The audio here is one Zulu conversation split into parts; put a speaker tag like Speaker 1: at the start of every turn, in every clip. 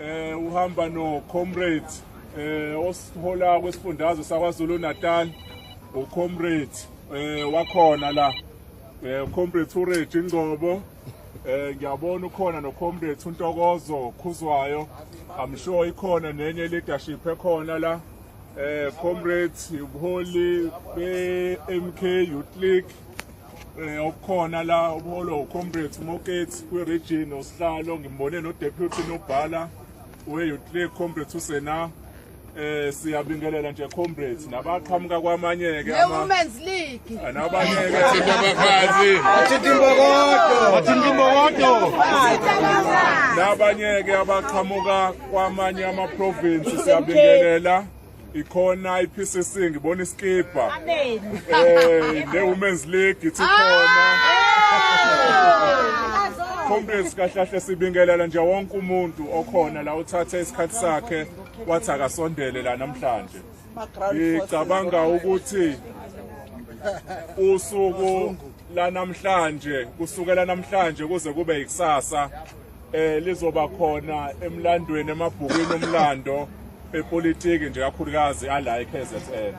Speaker 1: eh uhamba no comrade eh osihola kwesifundazwe sakwaZulu Natal ucomrade eh wakhona la eh comrade Urage Ngcobo eh ngiyabona ukhona no comrade uNtokozo Khuzwayo i'm sure ikhona nenye leadership ekhona la eh comrades ubuholi be MK Youth League eh okukhona la ubuholo comrades Moketsi kwi region osihlalo ngimbone no deputy nobhala we Youth League comrades usena eh siyabingelela nje comrades nabaqhamuka kwamanye ke ama Women's League
Speaker 2: ah, nabanye ke
Speaker 1: abafazi athinta imbokodo athinta imbokodo nabanye ke abaqhamuka kwamanye amaprovinsi siyabingelela ikhona i-PCC ngibona iskibha eh ne-women's league ithi khona Congress kahlahle sibingelela nje wonke umuntu okhona la uthathe isikhathi sakhe wathi akasondele la namhlanje ngicabanga ukuthi usuku lanamhlanje kusukela namhlanje kuze kube yikusasa eh lizoba khona emlandweni emabhukwini omlando epolitiki nje kakhulukazi ala eKZN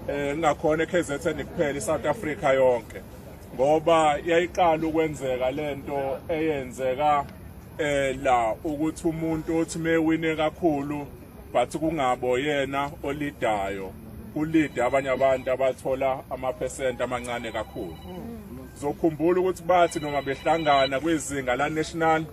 Speaker 1: eh ngakhona eKZN kuphela iSouth Africa yonke ngoba yayiqala ukwenzeka lento eyenzeka eh la ukuthi umuntu othi mewine kakhulu but kungabo yena olidayo ulide abanye abantu abathola amaphesenti amancane kakhulu zokhumbula ukuthi bathi noma behlangana kwizinga la national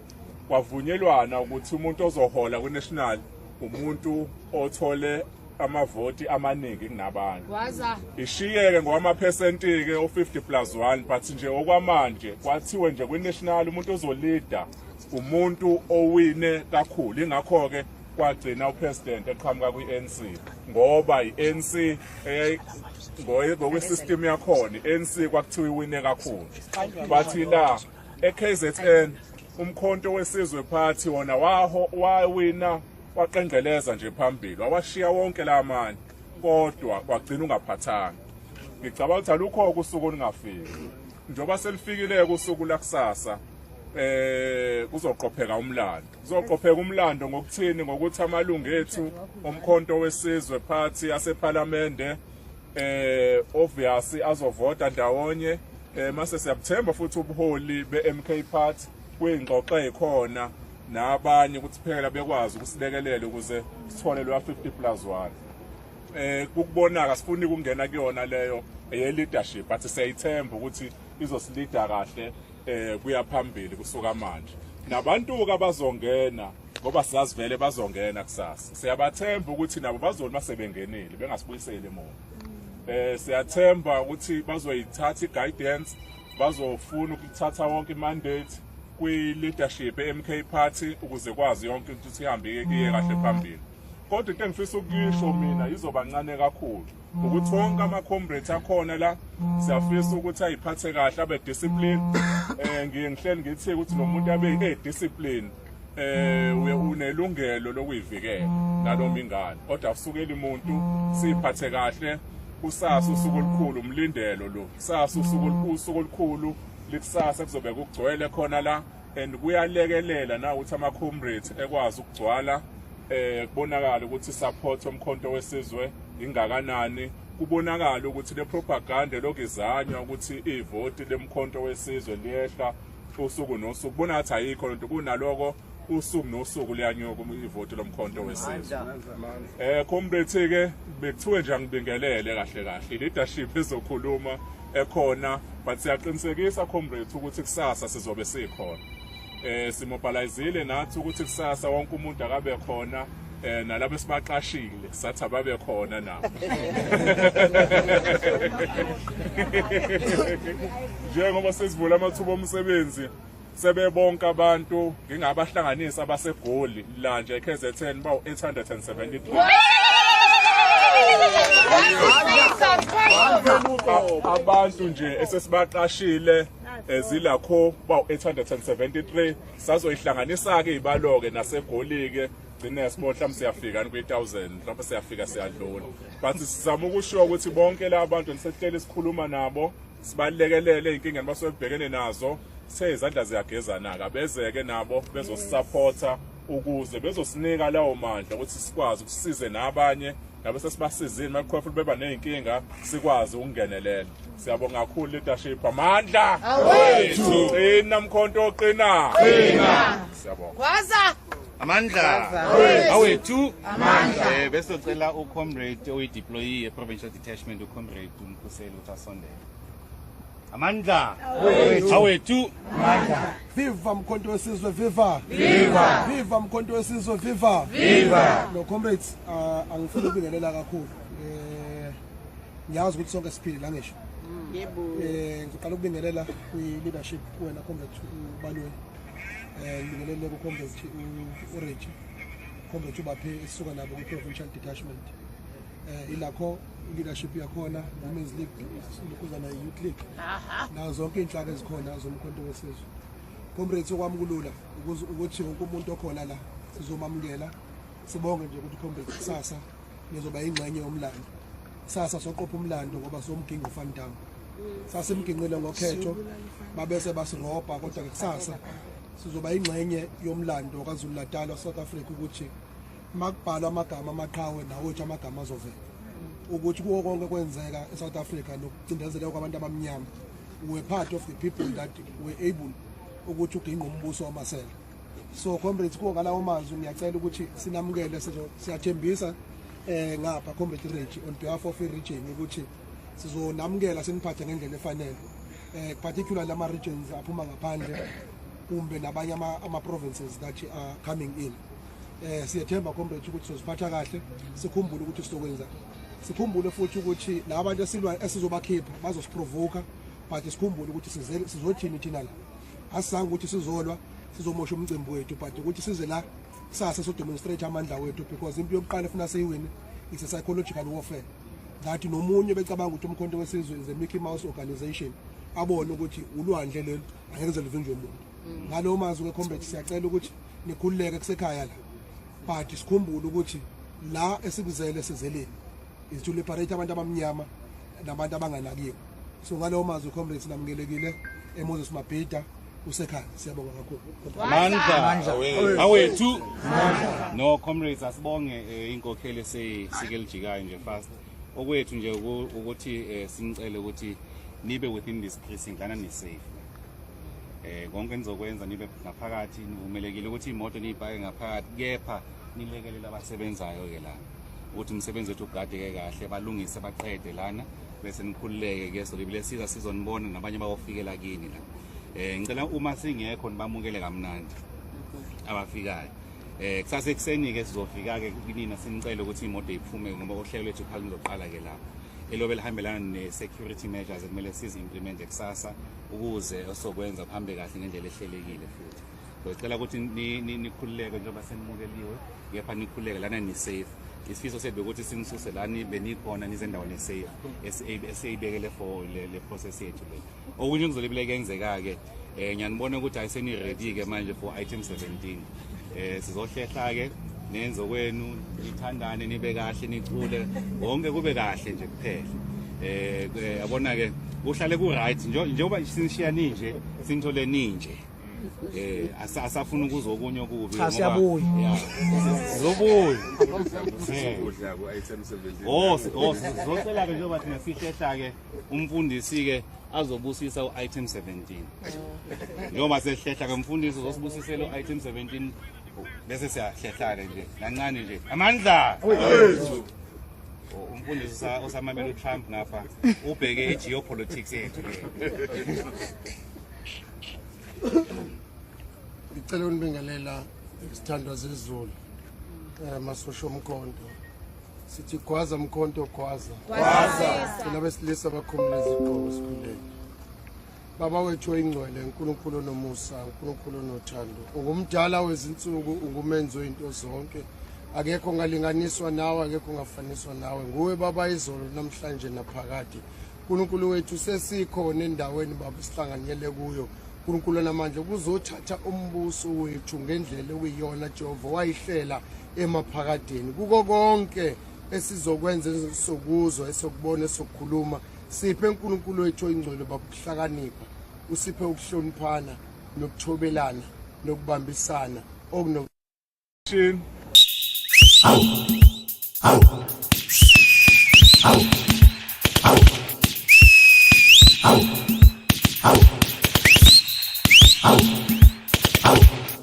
Speaker 1: kwavunyelwana ukuthi umuntu ozohola ku national umuntu othole amavoti amaningi kunabanye waza ishiyeke ngowamaphesenti ke o50 plus 1 but nje okwamanje kwathiwe nje kwi national umuntu ozolida umuntu owine kakhulu ingakho ke kwagcina upresident eqhamuka kwi-ANC ngoba i-ANC ngokwesystem yakhona i-ANC kwakuthiwa iwine kakhulu bathi la e-KZN umkhonto wesizwe party wona waho wawina waqengeleza nje phambili wawashiya wonke la manje kodwa kwagcina ungaphathanga ngicabanga ukuthi alukho kusuku olungafiki njengoba selifikile-ke usuku lakusasa um kuzoqopheka umlando Kuzoqopheka umlando ngokuthini ngokuthi amalungu ethu omkhonto wesizwe party asephalamende eh obvious azovota ndawonye eh mase siyabuthemba futhi ubuholi beMK Party kuyingxoxo ekhona nabanye ukuthi phela bekwazi ukusilekelela ukuze sithole lwa 50 plus 1 eh kukubonaka sifuni ukungena kuyona leyo eye leadership but siyayithemba ukuthi izosilida kahle eh kuya phambili kusuka manje nabantu-ke abazongena ngoba siyazi vele bazongena kusasa siyabathemba ukuthi nabo bazona uma sebengenile bengasibuyiseli emuva um siyathemba ukuthi bazoyithatha i-guidance bazofuna ukuthatha wonke i-mandate kwi-leadership e-mk party ukuze kwazi yonke into ukuthi ihambe iye kahle phambili kodwa into engifisa ukuyisho mina izoba ncane kakhulu ukuthi wonke ama-comrades akhona la siyafisa ukuthi ayiphathe kahle abe discipline um ngiye ngihleli ngithi ukuthi lo muntu abe e-discipline um uye unelungelo lokuyivikela nanoma ingane kodwa kusukeli muntu siyiphathe kahle kusasa usuku olukhulu umlindelo lo kusasa usuku olukhulu likusasa kuzobe kugcwele khona la and kuyalekelela na ukuthi ama comrades ekwazi ukugcwala eh kubonakala ukuthi support omkhonto wesizwe ingakanani kubonakala ukuthi le propaganda lokizanywa ukuthi ivoti lemkhonto wesizwe liyehla usuku nosuku kubona ngathi ayikho lento kunaloko usuku nosuku liyanyuka ivoti lomkhonto wesizwe eh comrade ke bekuthiwe nje angibingelele kahle kahle leadership ezokhuluma ekhona but siyaqinisekisa comrades ukuthi kusasa sizobe sikhona eh simobilizile nathi ukuthi kusasa wonke umuntu akabe khona eh nalabo esibaqashile sathi ababe khona nabo njengoba sesivula amathuba omsebenzi Sebebonke abantu ngingabahlanganisa abaseGoli lanje eKZN bawu-873. Abantu nje esesibaqashile ezilakho bawu-873 sazoyihlanganisa-ke ibalo-ke nasegoli-ke gcine sibona mhlawumbe siyafika ni kwi-thousand mhlawumbe siyafika siyadlula but sizama ukushiwo ukuthi bonke la bantu nisehleli sikhuluma nabo sibalekelele inkinga nibasuke bebhekene nazo sezandla ziyagezana-ke abezeke nabo bezosisaphotha ukuze bezosinika lawo mandla ukuthi sikwazi ukusize nabanye nabe sesibasizile makukhona futhi beba ney'nkinga sikwazi ukungenelela siyabonga kakhulu leadership amandla awethu qina mkhonto oqina qina siyabonga gwaza amandla
Speaker 2: awethu amandla eh, bese sicela ucomrade oyideployee eprovincial detachment ucomrade umkhuseli Asondele. Amandla awethu. Amandla. Viva mkhonto
Speaker 3: wesizwe viva. Viva. Viva mkhonto wesizwe viva. Viva. No comrades uh, angifuni ukubingelela kakhulu. Eh ngiyazi ukuthi sonke siphile la ngisho. Mm. Yebo. Eh ngiqala ukubingelela kwi leadership wena comrade ubalweni. Eh ngibingelele ku comrade uReji. Comrade ubaphe esisuka nabo ku provincial detachment. eh, ilakho leadership yakhona women's league lukuza nayo youth league nazo zonke iy'nhlaka ezikhona zomkhonto wesizwe comrades okwamukulula ukuthi wonke umuntu okhona la sizomamukela sibonge nje ukuthi comrades kusasa nizoba yingxenye yomlando kusasa soqopha umlando ngoba somginqo ufan down sasimginqile ngokhetho babese basirobha kodwa kusasa sizoba yingxenye yomlando kwazulu natal wasouth africa ukuthi makubhalwa amagama amaqhawe nawethu amagama azovela ukuthi kuwo konke kwenzeka eSouth Africa nokucindezeleka kwabantu abamnyama were part of the people that were able ukuthi uginqa umbuso wamasela so comrades kuwo ngalawo mazwi ngiyacela ukuthi sinamukele siyathembisa eh ngapha comrade Rich on behalf of region ukuthi sizonamukela siniphathe ngendlela efanele eh particularly lama regions aphuma ngaphandle kumbe nabanye ama provinces that are coming in eh siyethemba comrade ukuthi soziphatha kahle sikhumbule ukuthi sizokwenza sikhumbule futhi ukuthi laba bantu esilwa esizobakhipha bazosiprovoka but sikhumbule ukuthi size sizothini thina la asizange ukuthi sizolwa sizomosha umcimbi wethu but ukuthi size la kusasa so demonstrate amandla wethu because impi yokuqala efuna siyiwine is a psychological warfare that nomunye becabanga ukuthi umkhonto wesizwe is a Mickey Mouse organization abone ukuthi ulwandle lelo angeke lize livinjwe umuntu mm. ngalo mazwi ke combat siyacela ukuthi nikhululeke kusekhaya la but sikhumbule ukuthi la esikuzele sizeleni is to liberate abantu abamnyama nabantu abanganakiwe so ngalowo mazwi comrades namukelekile emoses mabhida usekhaya siyabonga kakhulu mandla
Speaker 2: awethu no comrades asibonge eh, inkokheli eseyisike lijikayo nje fast okwethu nje ukuthi eh, sinicele ukuthi nibe within this precinct lana nisafe eh konke nizokwenza nibe ngaphakathi nivumelekile ukuthi imoto niyipake ngaphakathi kepha nilekelela abasebenzayo ke lana ukuthi umsebenzi wethu ugadeke kahle balungise baqede lana bese nikhululeke ke so libile siza sizonibona nabanye bawofikela kini la eh ngicela uma singekho nibamukele kamnandi abafikayo Eh kusase kuseni ke sizofika ke kunina sinicele ukuthi imoto iphume ngoba uhlelo lwethu phakathi lizoqala ke lapho. Elobe lihambelana ne security measures ekumele sizi implement kusasa ukuze osokwenza kuhambe kahle ngendlela ehlelekile futhi. Ngicela ukuthi nikhululeke njengoba senimukeliwe kepha nikhululeke lana ni safe. isifiso sethu ukuthi sinisuse la benikhona nizendaweni esafe esiyibekele for le process yethu le okunye kuzobe kuyenzeka-ke Eh ngiyanibona ukuthi ayiseni ready ke manje for item 17. Eh sizohlehla ke nenze kwenu nithandane nibe kahle nicule wonke kube kahle nje kuphela eh, eh yabona ke uhlale ku right njengoba sinishiya ninje sinithole ninje eh asafuna ukuzwa okunye okubi cha siyabuya sizobuya ukudla ku item 17 oh oh sizocela ke njengoba thina sihlehla ke umfundisi-ke azobusisa u-item 17 njengoba sehlehla ke mfundisi uzosibusisela u-item 17 bese siyahlehlane nje kancane nje amandla umfundisi usamamela utrump ngapha ubheke i-geopolitics yethu le ngicela
Speaker 3: unibingelela isithandwa zezulu um eh, masosho omkhonto sithi gwaza mkhonto gwaza thina besilisa bakhumula izigqoko esikhundleni baba wethu oyingcwele unkulunkulu onomusa unkulunkulu onothando ungumdala wezinsuku ungumenzi oyinto zonke akekho ungalinganiswa nawe akekho ungafaniswa nawe nguwe baba izolo namhlanje naphakade unkulunkulu wethu sesikhona endaweni baba sihlanganyele kuyo uNkulunkulu namandla kuzothatha umbuso wethu ngendlela okuyiyona Jehova wayihlela emaphakadeni kuko konke esizokwenza esokuzwa esokubona esokukhuluma siphe uNkulunkulu wethu oyingcwele babuhlakanipha
Speaker 4: usiphe ukuhloniphana nokuthobelana nokubambisana okuno Au! Au! Au!